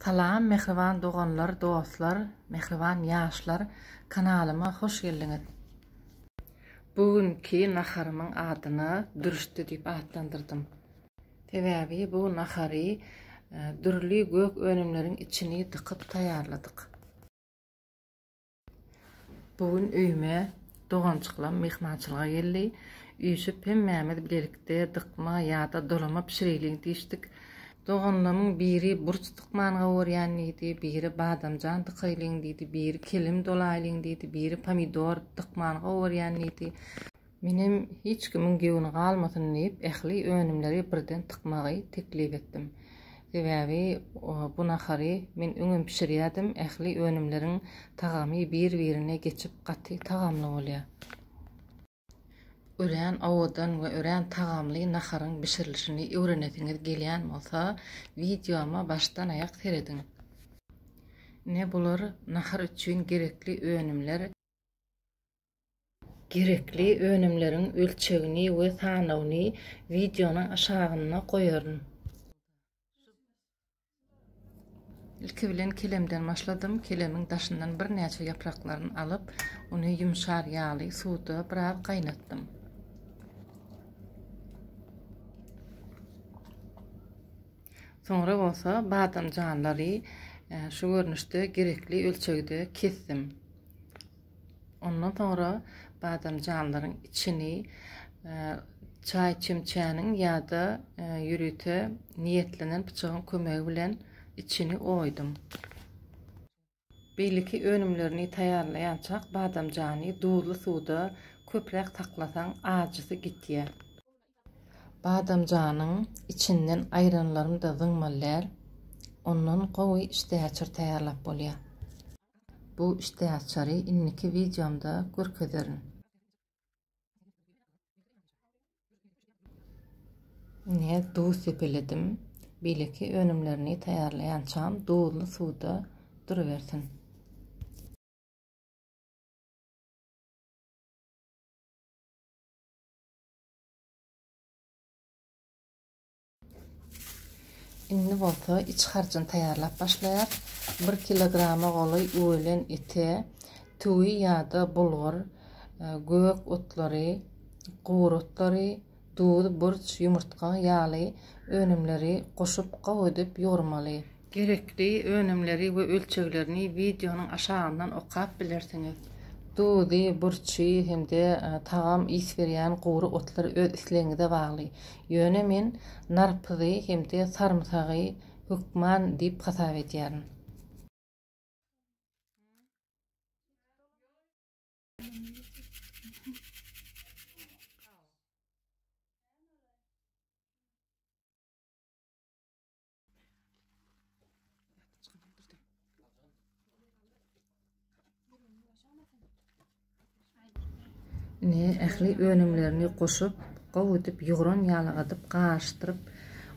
Salam mähriban doganlar dostlar mähriban ýaşlar kanalyma hoş geldiňiz. Bu günki naharymyň adyna dürüşdi diýip atlandyrdym. Sebäbi bu nahary dürli gök önümleriň içini dykyp taýýarladyk. Bu gün öýüme doganjyklarym myhmançylyga geldi. Üýşüp hemmämiz bilelikde dykma ýa-da dolama bişireliň diýişdik. Doganlarymyň biri burç dykmany gowurýan diýdi, biri badamjan dykaýlyň diýdi, biri kelem dolaýlyň diýdi, biri pomidor dykmany gowurýan diýdi. Menem hiç kimiň göwni galmasyn diýip, ähli önümleri birden tykmagy teklip etdim. Sebäbi bu nahary men öňem bişirýärdim, ähli önümleriň tagamy bir-birine geçip gaty tagamly bolýar. Örän owadan we örän tagamly naharyň bişirilişini öwrenesiňiz gelýän bolsa, wideoma başdan-aýak serediň. Ine bular nahar üçin gerekli önümler. Gerekli önümleriň ölçegini we sanawyny wideonyň aşagynda goýaryn. Ilki bilen kelemden başladym. Kelemiň daşyndan birnäçe ýapraklaryny alyp, ony ýumşar ýaly suwda biraz gaýnatdym. Soňra bolsa badamjanlary e, şu görnüşde gerekli ölçegde kesdim. Ondan soňra badamjanlaryň içini çaý çemçäniň ýa-da ýörite niýetlenen pyçagyň kömegi bilen içini oýdum. Beýleki önümlerini taýýarlaýançak badamjany duzly suwda köpräk saklasaň ajysy gitýär. Badamjanyň içinden aýranlaryny-da zyňmallär. Ondan gowy işdäaçar taýýarlap bolýar. Bu işdäaçary indiki wideomda görkezerin. Ine, duz sepeledim. Beýleki önümlerini taýýarlaýançam duzly suwda durubersin. Indi bolsa iç harjyny taýýarlap başlaýarys. 1 kilograma golaý ölen ete tüwi ýa-da bulgur, e, gök otlary, gury otlary, duz, burç, ýumurtga ýaly önümleri goşup gowy edip ýugurmaly. Gerekli önümleri we ölçeglerini wideonyň aşagyndan okap bilersiňiz. Duzy, burçy hem-de tagam ys berýän gury otlar öz islegiňize bagly. Ýöne men narpyzy hem-de sarymsagy hökman diýip hasap edýärin. Indi ähli önümlerini goşup, gowy edip ýugran ýalagadyp, garyşdyryp,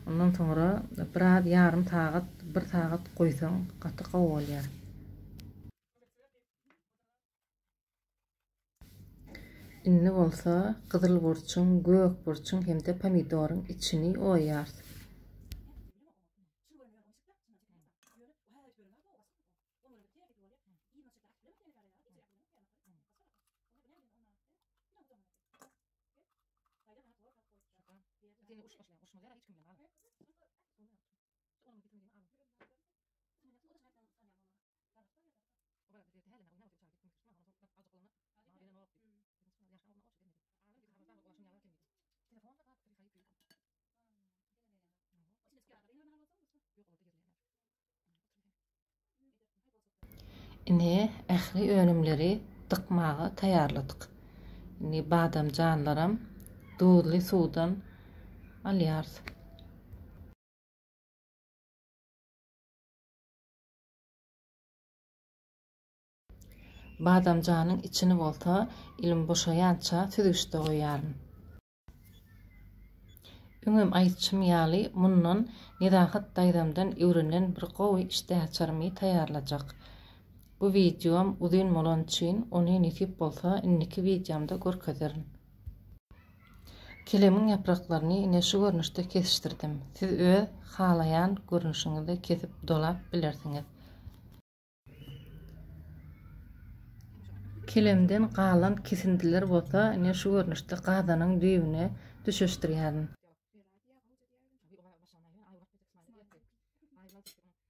ondan soňra biraz ýarym sagat, bir sagat goýsaň, gaty gowy bolýar. Indi bolsa gyzyl burçuň, gök burçuň hem-de pomidoryň içini oýarys. Indi ähli önümleri dykmaga taýýarladyk. Indi badamjanlaram duzly suwdan alýarys. Badamjanyň içini bolsa ilim boşaýança süzgüçde goýýaryn. Öňem aýtşym ýaly mundan Nezahat daýzamdan öwrenen bir gowy işdäaçarymy taýýarlajak. Bu wideom uzyn bolany üçin ony nesip bolsa indiki wideomda görkezerin. Kilemiň ýapraklaryny ine şu görnüşde kesişdirdim. Siz öz halaýan görnüşiňizde kesip dolap bilersiňiz. Kilemden galan kesindileri bolsa ine şu görnüşde gazanyň düýbüne düşeşdirýärin.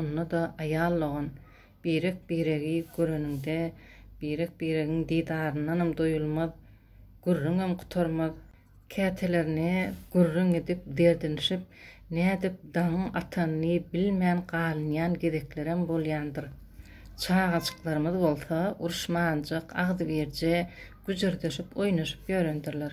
Onda-da aýal-dogan birek-biregi göreniňde, birek-biregiň didaryndanam doýulmaz, gürrüňem gutarmaz. Kätelerine gürrüň edip derdinişip, nädip daňyň atanyny bilmän galynýan gezeklerem bolýandyr. Çagajyklarymyz bolsa uruşmanjyk, agzybirje güjürdeşip oýnaşyp ýörendirler.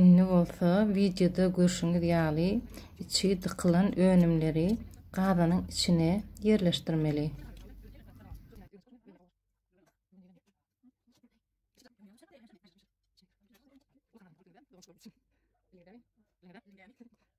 Indi bolsa wideoda görşüňiz ýaly içi dykylan önümleri gazanyň içine ýerleşdirmeli.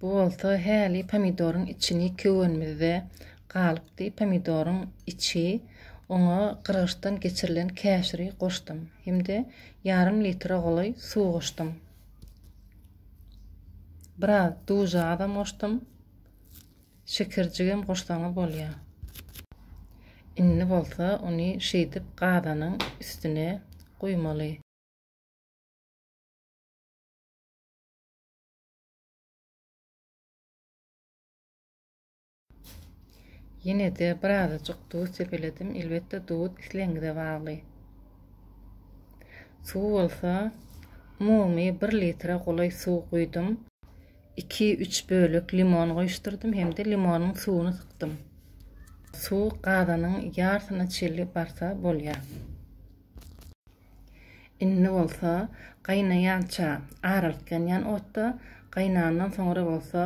Bu bolsa häli pomidoryň içini köwenimizde galypdy. Pomidoryň içi oňa gyrgyçdan geçirilen käşiri goşdum hem-de ýarym litre golaý suw goşdum. Biraz duza azam goşdum. Şekerjigem goşsaňyz bolýar. Indi bolsa ony şeýdip gazanyň üstüne guýmaly. Ýene-de birazajyk duz sepeledim. Elbetde, duz islegiňize bagly. Suw bolsa, umumy bir litre golaý suw guýdum. Iki-üç bölek limon goýuşdyrdym hem-de limonyň suwuny sykdym. Suw gazanyň ýarsyna çenli barsa bolýar. Indi bolsa gaýnaýança aralyk-ýanýan otda, gaýnandan soňra bolsa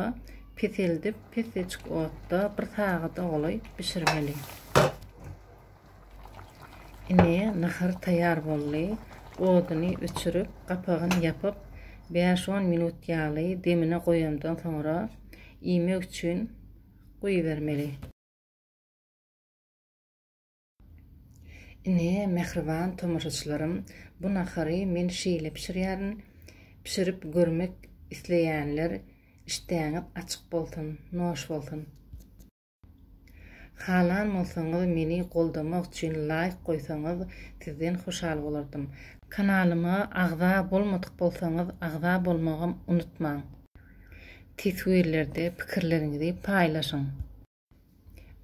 peseldip, peseçik otda bir sagada golaý bişirmeli. Ine, nahar taýýar boldy. Oduny öçürip, gapagyny ýapyp, bäş-on minut ýaly demine goýandan soňra iýmek üçin goýbermeli. Ine, mähriban tomaşaçylarym, bu nahary men şeýle bişirýärin. Bişirip görmek isleýänler işdäňiz açyk bolsun, noş bolsun! Halan bolsaňyz meni goldamak üçin laýk goýsaňyz sizden hoşal bolardym. Kanalyma agza bolmadyk bolsaňyz agza bolmagam unutmaň. Teswirlerde pikirleriňizi paýlaşyň.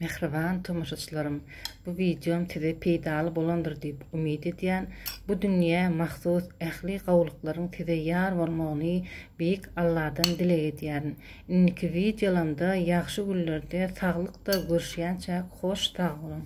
Mähriban tomaşaçylarym, bu wideom size peýdaly bolandyr diýip umyt edýän. Bu dünýä mahsus ähli gowulyklaryň size ýar bolmagyny Beýik Alladan dileg edýärin. Indiki wideolamda ýagşy günlerde saglykda görüşýänçäk hoş sag boluň.